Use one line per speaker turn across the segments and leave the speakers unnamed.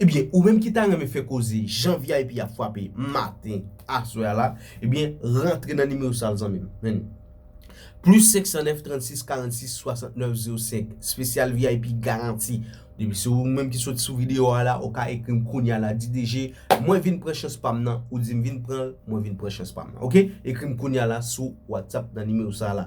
Ebyen ou menm ki ta renmen fè koze jan vip ap fwape maten aswè a la ebyen rantre nan nimewo sa zanmim men Plus 509 36 46 69 05 spesyal vip garanti depi se ou menm ki sot sou video a la ou ka ekrim kounya la di DG mwen vin pran chans pam nan ou dim vin pranl mwen vin pran chans pam nan ok ekrim kounya la sou whatsapp nan nimewo sa la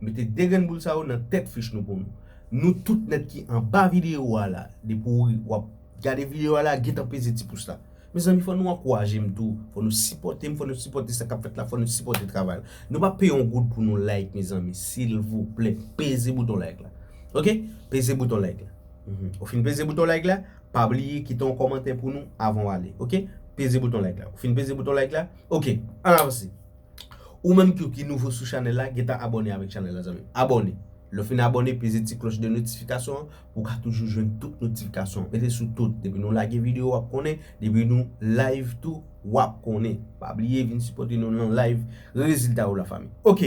Mete 2 grenn boul sa yo nan tèt fich nou pou nou. Nou tout nèt ki anba video a la depi ou wap gade video a la gentan peze ti pous la. Mezanmi fò nou ankourajem tou, fò nou sipòtem, fò nou sipòte sa kap fèt la, fò nou sipòte travay la. Nou pa peye yon goud pou nou like mezanmi silvouplè peze bouton like la ok peze bouton like la ou fin peze bouton like la pa bliye kite yon kòmantè pou nou avan ou ale ok peze bouton like la ou fin peze bouton like la ok an avanse. Ou menm tou ki nouvo sou chanèl la gentan abòne avèk chanèl la zanmim abòne lè w fin abòne peze ti klòch de notifikasyon an pou w ka toujou jwenn tout notifikasyon mete sou tout depi nou lage videyo wap konnen depi nou live tou wap konnen pa bliye vin sipòte nou nan live rezilta ou la fanmi ok.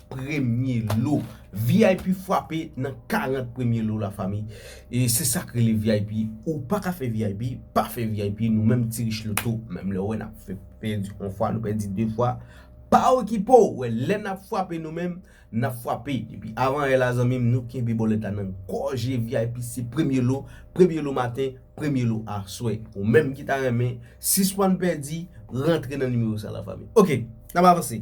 premye lo vip fwape nan 40 premye lo la fami e se sak rele vip ou pa ka fè vip pa fè vip nou menm ti rich loto menm lè wè nap fè pèdi on fwa nou pèdi 2 fwa pa okipo wè lè nap fwape nou menm nap fwape depi avan è la zanmim nou kenbe bòlèt la nan gòje vip se premye lo premye lo maten premye lo aswè ou menm ki ta renmen sispann pèdi rantre nan nimewo sa la fami ok nap avanse.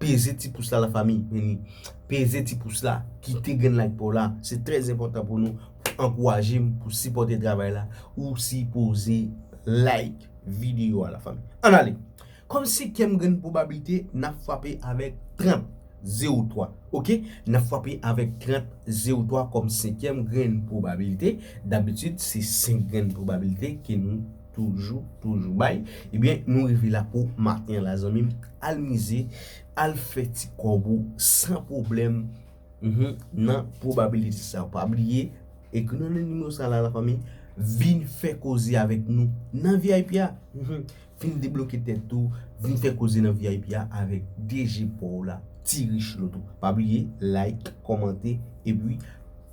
Peze ti pous la la fami meni. Peze ti pous la. Kite grenn like paw la. Se trè enpòtan pou nou. Pou ankouraje m. Pou sipòte travay la. Ou sipoze like video a la fami. An ale. Kòm senkyèm grenn pwobablite. Nap fwape avèk 30. 0 3. Ok. Nap fwape avèk 30. 0 3 kòm senkyèm grenn pwobablite. Dabitid se 5 grenn pwobablite ke nou. Toujou, toujou bay. Ebyen, nou rive la pou maten la zanmim. Al mize, al fè ti kòb ou san pwoblèm. Nan probability sa yo. Pa bliye, ekri nou nan nimewo sa la la fanmi. Vin fè koze avèk nou nan vip a. Vin debloke tèt ou. Vin fè koze nan vip a avèk DG pa w la, Ti Richelieu. Pa bliye, like, kòmante, epi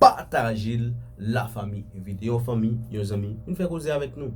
pataje l la fanmi. Envite yon fanmi, yon zanmi. Vin fè koze avèk nou.